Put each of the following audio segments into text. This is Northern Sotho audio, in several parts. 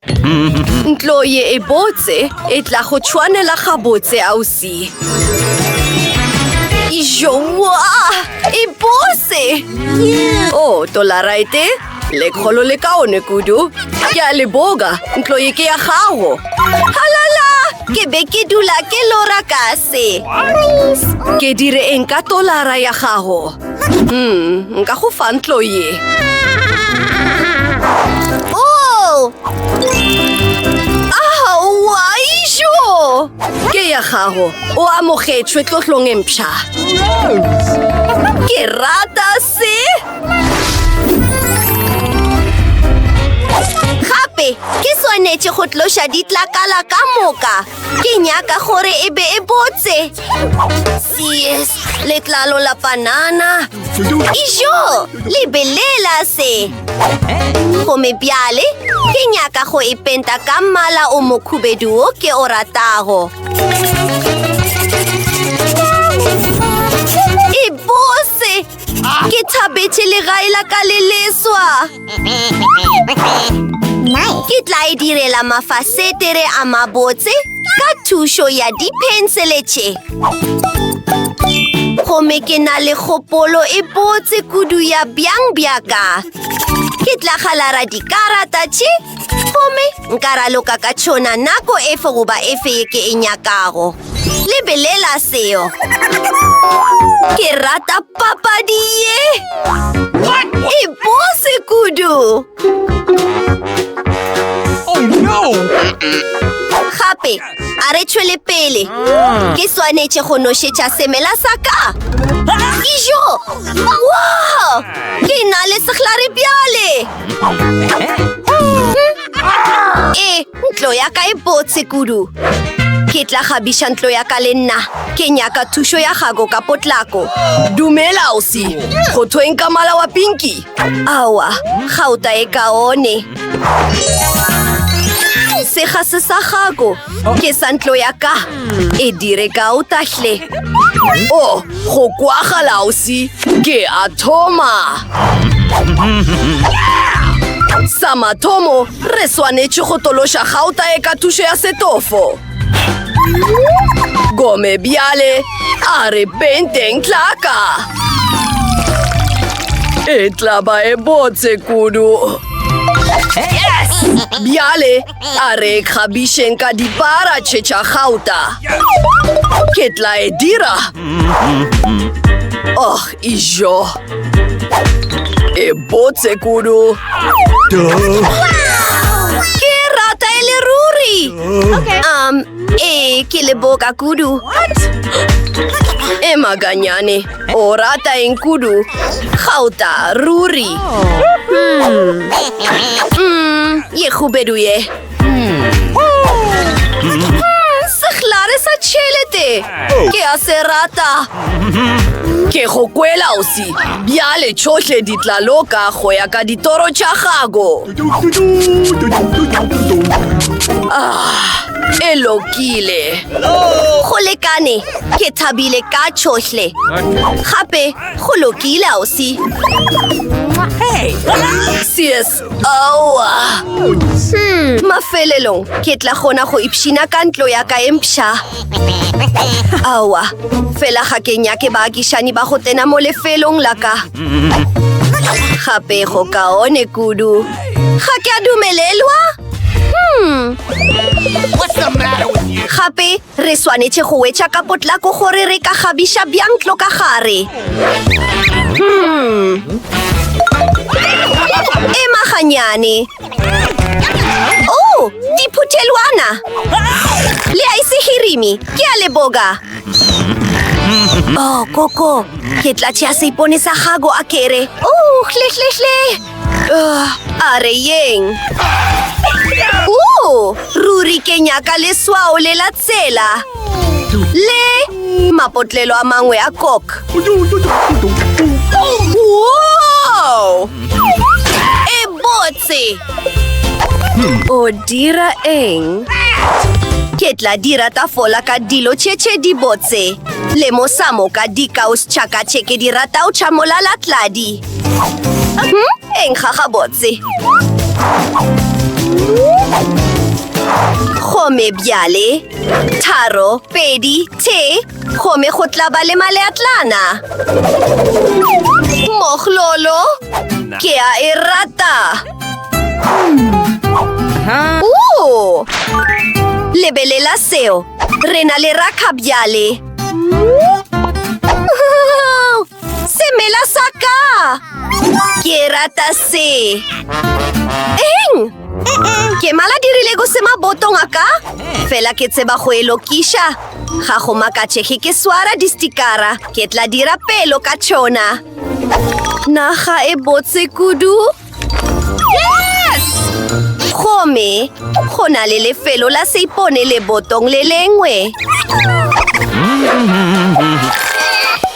Ntlo ye e botse e tla go tshwanela gabotse ausi. Ijoa! E bose! Oh, tolaraete, lekgolo le kaone kudu. Ke a le boga, ntlo ye ke ya gago. Halala! Ke be ke dula ke lora kase. Ke dire eng ka tolara ya gago? Hmm, nka go fa ntlo ye. Oh! Aowa, ijo! Ke ya gago, o amogetšwe tlotlong e mpšha. Ke rata se! Gape, ke swanetše go tloša ditlakala ka moka. Ke nyaka gore e be e botse. Yes, letlalo la panana. Ijo, lebelela se. Gome bjale, ke nyaka go e penta ka mmala o mokhubedu o ke o ratago. Ke thabetše legae la ka le leswa. Ke tla e direla mafasetere a mabotse ka thušo ya diphensele tše. Gomme ke na le kgopolo e botse kudu ya bjang bja ka. Ke tla galara dikarata tše gomme nka raloka ka tšona nako efe goba efe ye ke e nyakago. Lebelela seo! Ke rata papadi ye! E bose kudu! Oh no! Gape, a re tšhwele pele. Ah. Ke swanetše go nošetša semela sa ka. Ijo! Wow! Ke na le sehlare bjale! E! Ntlo ya ka e botse kudu. Ke tla kgabiša ntlo ya ka le nna. Ke nyaka thušo ya gago ka potlako. Dumela, ausi. Go thweng ka mala wa pinki? Awa, gauta e kaone. Sega se sa gago. Ke sa ntlo ya ka. E dire gauta hle. O, go kwagala, ausi. Ke a thoma. Sa mathomo Re swanetše go tološa gauta e ka thušo ya setofo. Gome bjale a re penteng tlaka. E tla ba e botse kudu. Bjale a re kgabišeng ka dipara tše tša gauta. Ke tla e dira. Oh, Ijo. E botse kudu. Ke rata e le ruri. Okay. Um, e ke le boka kudu. What? E maganyane. O rata eng kudu. Gauta ruri. Oh. Hmm. Mm, ye gubedu ye. sehlare sa tšhelete ke a se rata ke go kwela osi bjale tšhohle di tla loka go ya ka ditoro tša gago e lokile go lekane ke thabile ka tšhohle gape go lokile osi cs Aowa! Hmm, mafelelong ke tla kgona go ipshina ka ntlo ya ka empša. Aowa, fela ga ke nyake baakišani ba go tsena mo lefelong la ka. Gape go kaone kudu. Ga ke a dumelelwa? Hmm. Gape Re swanetše go wetša ka potlako gore re ka kgabiša bjang tlo ka gare. Hmm. Ema ganyane. Oh, diphuthelwana. Le a isehirimi, ke a leboga. Oh, koko, ke tlatše a seipone sa gago a kere. Oh, hle, hle, hle. a re yeng o ruri ke nyaka leswao le la tsela le mapotlelo a mangwe a kok e botse o dira eng ke tla dira tafola ka dilo tšhetšhe di botse le mosamo ka dikaos tšhakatšhe ke di ratao tšhamolalatladi eng ga gabotse gomme bjale tharo pedi the gomme go tla ba le maleatlana moglolo ke a e rata lebelela seo re na le rakga bjale Semela sa ka! Ke rata se! Eng? Ke mala dirile go se mabotong a ka? Fela ke tseba go e lokiša. Ga go makatšege ke swara distikara. Ke tla dira pelo ka tšona. Naga e botse kudu. Gomme go na le lefelo la seipone le botong le lengwe.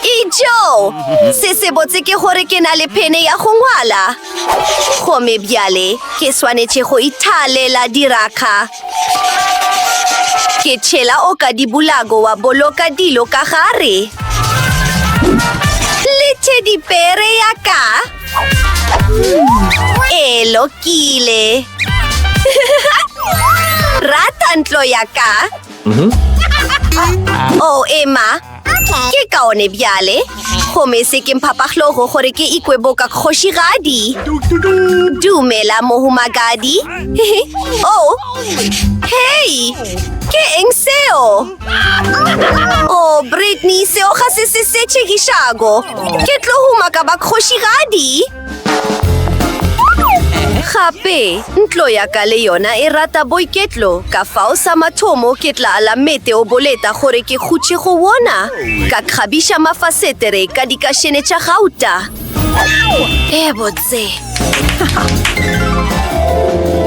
Ijo! Se se botse ke gore ke na le phene ya go ngwala. Gomme bjale ke swanetše go ithalela dirakga. Ke tšhela o ka dibulago wa boloka dilo ka gare. Le tše dipere ya ka. E lokile. Rata ntlo ya ka. Mhm. Oh, Emma. Ke kaone bjale. Gomme se ke mphapaglogo gore ke ikwe boka kgošigadi. Dumela mohumagadi. oh, hei, ke eng seo? Oh, Brittany, seo ga se se se tšhegišago. Ke tlo huma ka ba kgošigadi. Gape, ntlo ya ka le yona e rata boiketlo, ka fao sa mathomo ke tla ala mete o boleta gore ke gutše go wona, ka kgabiša mafasetere ka dikašene tša gauta. E botse.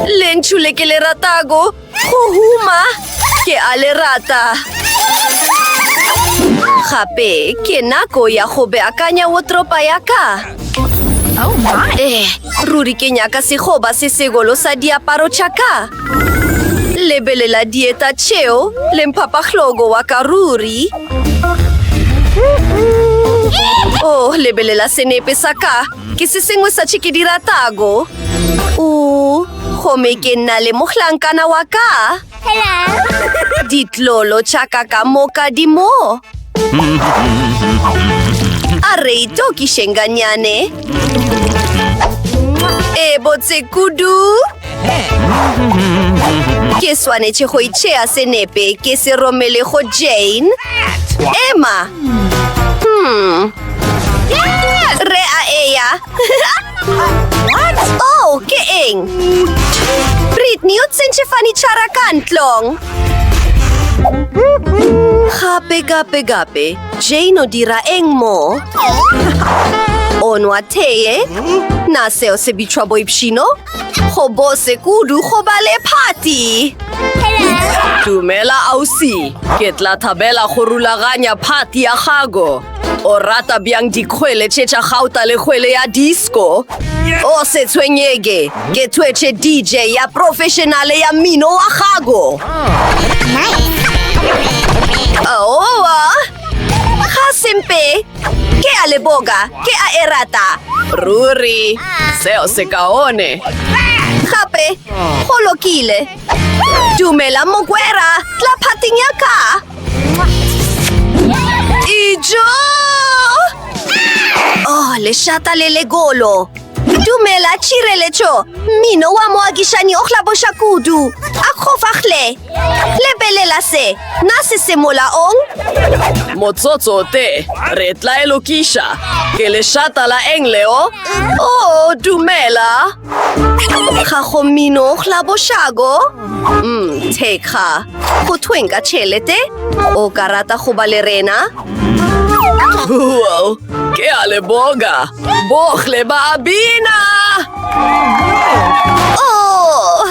Lentšu le ke le ratago Go huma ke a le rata. Gape ke nako ya go beakanya wotropa ya ka. Oh my. Eh, ruri ke nyaka segoba se segolo sa diaparo tša ka. Lebelela dieta tšeo le mphapahlogo wa ka ruri. Oh, lebelela senepe sa ka. Ke se sengwe sa tše ke di ratago. O Gomme ke nna le mohlankana wa ka. Hello. Ditlolo tša ka ka moka di mo. A re itokišeng ganyane. E botse kudu. Ke swanetše go itšhea senepe ke se romele go Jane. Emma. Hmm. Re a eya. What? Oh, ke eng? Britney, o tsentše fanitšhara ka ntlong. Gape, gape, gape. Jane o dira eng mo? O nwa tee? Na seo se bitšwa boipšhino? Go bose kudu go ba le phati. Dumela ausi, ke tla thabela go rulaganya phati ya gago. O rata bjang dikgwele tše tša gauta le kgwele ya disco? O se tshwenyege, ke thwetše DJ ya professionale ya mmino wa gago. Aowa, ga sempe, ke a leboga, ke a e rata. Ruri, seo se kaone. Gape, go lokile. Dumela mogwera, tla phating ya ka. Ijo! Oh, lešata le legolo. Dumela tšireletšo. Mmino wa moakišani o hlaboša kudu. A kgofagle. Lebelela se. Na se se molaong? Motsotso o te. Re tla e lokiša. Ke lešata la eng leo? Oh, dumela. ga go mino la bošako mm thekga go thweng ka tšhelete o ka rata go ba le rena wow ke a le boga bogle ba bina oh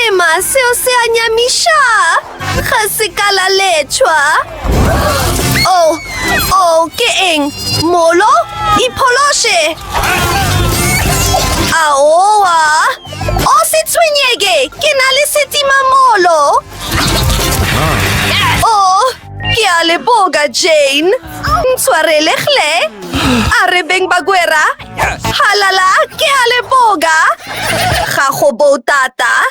ema seo se a nyamiša Ga se ka la letšhwa. O, oh, o, oh, ke eng? Molo? Iphološe! Aowa! O se tshwenyeke, ke na le setimamolo! O, oh, ke a le boka, Jane. Ntshwarele, hle. A re beng bagwera. Halala, ke a le boka. Ga go bo tata.